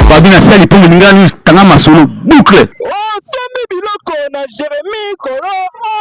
babi na sali mpo molingani tanga masolo boucle osombi biloko na jeremi kolo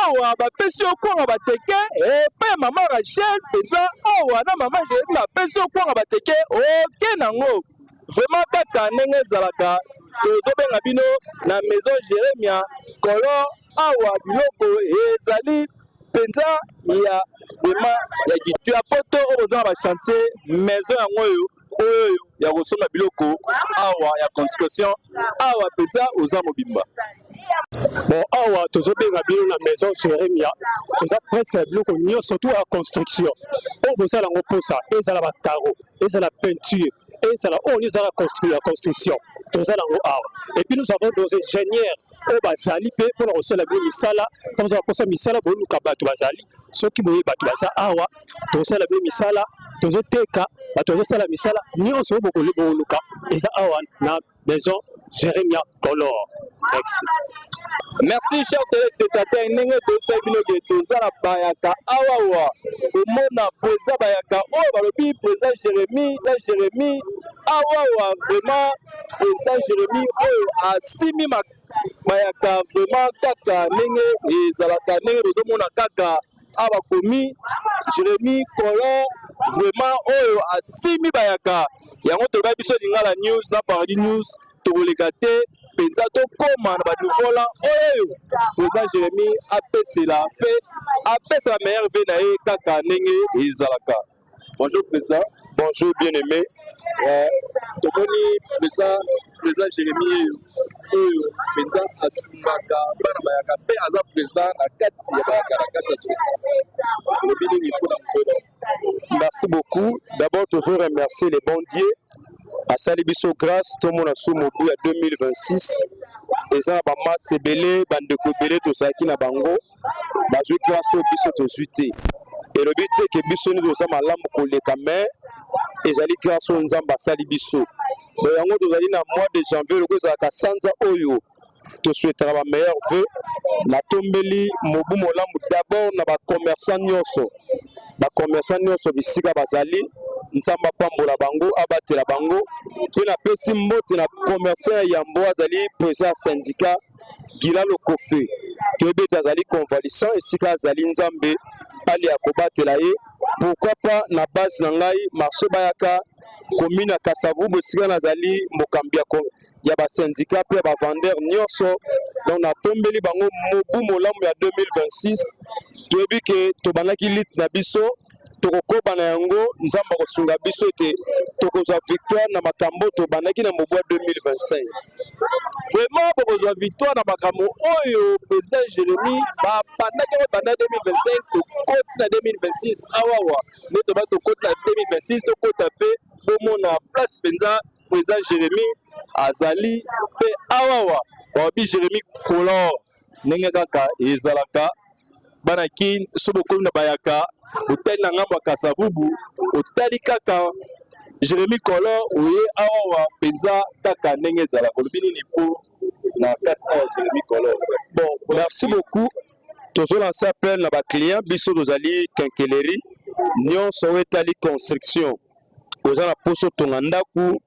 awa bapesi yo kwanga bateke epe eh, mama rachel mpenza awa na mama jeremi bapesi yo kwanga bateke oke nango vraiment kaka ndenge ezalaka tozobenga bino na maison jeremia kolo awa biloko ezali mpenza ya vraiment ya gitu ya poto oyo boza na bachantier maison yango oyo oyo ya kosomba biloko awa ya construction awa mpenza oza mobimba bon awa tozobenga bino na maison jeremia toza presque ya biloko nyonso to ya construction oyo bozala yango mposa ezala bacaro ezala peinture ezala oyo nyonso ezala ya construction toza nango awa epuis nous avons nos ingénieurs oyo bazali mpe mpo na kosala bino misala kama oza baposa misala boluka bato bazali soki boye bato baza awa tokosala bino misala tozoteka bato bazosala misala nyonso oyo bokoluka eza awa na maison jeremia color merci merci cher telespectateur ndenge toyebisaki bino ke toza na bayaka awawa komona president bayaka oyo balobi president jérémie na jérémie awawa vraiment president Jeremy oyo asimi mayaka vraiment kaka ndenge ezalaka ndenge bozomona kaka awa bakomi Jeremy Color vraiment oyo asimi bayaka yango toyebai biso lingala news na paradis news tokoleka te mpenza tokóma na banouvola oyo president Jeremy apesela mpe apesa ba meilleur vie na ye kaka ndenge ezalaka Bonjour président. Bonjour bien aimé. Euh, tomoni mpenza président jérémie oyo mpenza asungaka bana bayaka mpe aza président na kati ya bayaka na kati ya soki olobi nini mpona mokolo merci beaucoup d'abord tozo remercier le bon dieu asali biso grâce tomona su mobu ya 2026 eza na bamase ebele bandeko ebele tozalaki na bango bazwi grâce oyo biso tozwi te elobi te ke biso nde toza malamu koleka mais ezali grâce oyo nzambe asali biso bo yango tozali na mois de janvier loko ezalaka sanza oyo tosuetaka ba meilleur vœux natombeli mobu molamu d'abord na bacommerçant nyonso bacommerçant nyonso bisika bazali nzambe apambola bango abatela bango mpe napesi mbote na commerçant ya yambo azali president ya syndicat Gila Lokofe toyebi ete azali convalescent esika azali Nzambe alia kobatela ye pourquoi pas na base na ngai marché bayaka commune ya Kasavubu esika nazali mokambi ya, ya ba syndicat mpe ya ba vendeur nyonso donc natombeli bango mobu molamu ya 2026 toyebi ke tobandaki lite na biso tokokoba na yango nzambe akosunga biso ete tokozwa victoire na makambo tobandaki na mobwa 2025 vraiment bokozwa victoire na makambo oyo président jérémi babandaki yango banda 2025 tokoti na 2026 awawa nde toba tokoti na 2026 tokota mpe bomona place mpenza président jérémi azali mpe awawa babi jérémi color ndenge kaka ezalaka bana kin so bokomi na bayaka otali na ngambo ya kasavubu otali kaka jeremi kolo oye awawa mpenza kaka ndenge ezalaka olobi nini mpo na kati awa jeremi kolo bon merci beaucoup tozolanse appel na baclient biso tozali kenkeleri nyonso oyo etali construction oza na poso tonga ndaku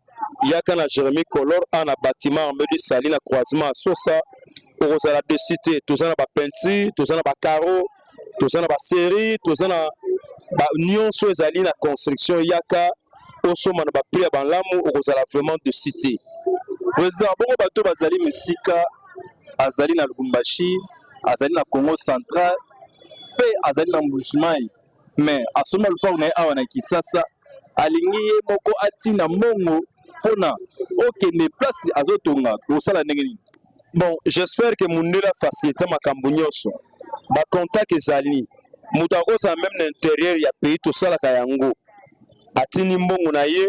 yaka na jeremie color a na batiment arme du sali na croisement ya sosa okozala desi te toza na bapeinture toza na bacaro toza na baserie toza na ba nyonso ezali na construction yaka osomba na baprix ya balamu okozala vraiment desi te president bongo bato bazali misika azali na lubumbashi azali na congo central mpe azali na mbujimai mais asomba lopango na ye awa na kinsasa alingi ye moko atina mbongo mpona okende place azotonga kosala ndenge nini bon j'espère que mundele afacilite makambo nyonso bacontact ezali moto akozala meme na interieur ya pays tosalaka yango atindi mbongo na ye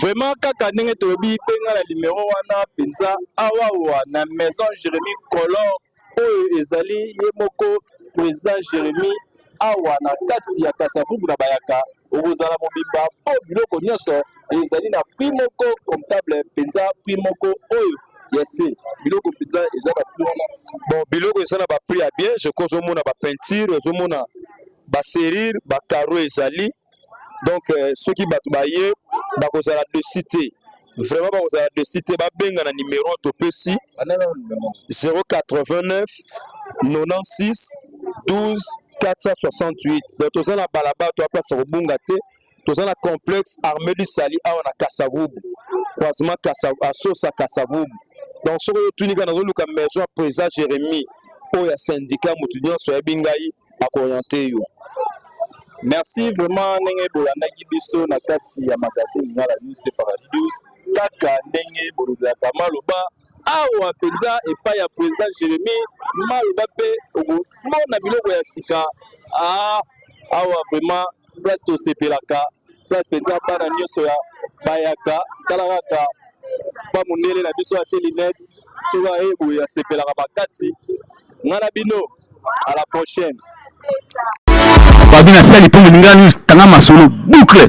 vraiment kaka ndenge tolobi mpe nga na limero wana mpenza awawa na maison jeremi color oyo ezali ye moko president jeremi awa na kati ya kasavubu na bayaka okozala mobimba mpo biloko nyonso ezali na prix moko comptable mpenza prix moko oyo ya se biloko mpenza eza na prix wana bon biloko eza na baprix ya bien je crois ozomona bapeinture ozomona baserire bacaro ezali donc euh, soki bato baye bakozala desi te vraiment bakozala desi te babenga na nimero topesi 089 96 12 468 donc toza na balabala to aplace kobunga te toza na complexe armée du sali awa na kasavubu croisement asosa kasavubu donc soki oyo otunika nazoluka maison ya président jérémie oyo ya syndicat moto nyonso ayebi ngai akoriente yo merci vraiment ndenge bolandaki biso na kati ya magazine lingala news de paradis 12 kaka ndenge bolobelaka maloba awa mpenza epai ya président jérémi maloba mpe okomona biloko ya sika ah, awa vraiment place tosepelaka place mpenza bana nyonso ya bayaka tala kaka pa mondele na biso atie linete soki aye boye asepelaka makasi nga na bino à la prochaine fabi na sali mpe molingani tanga masolo boucle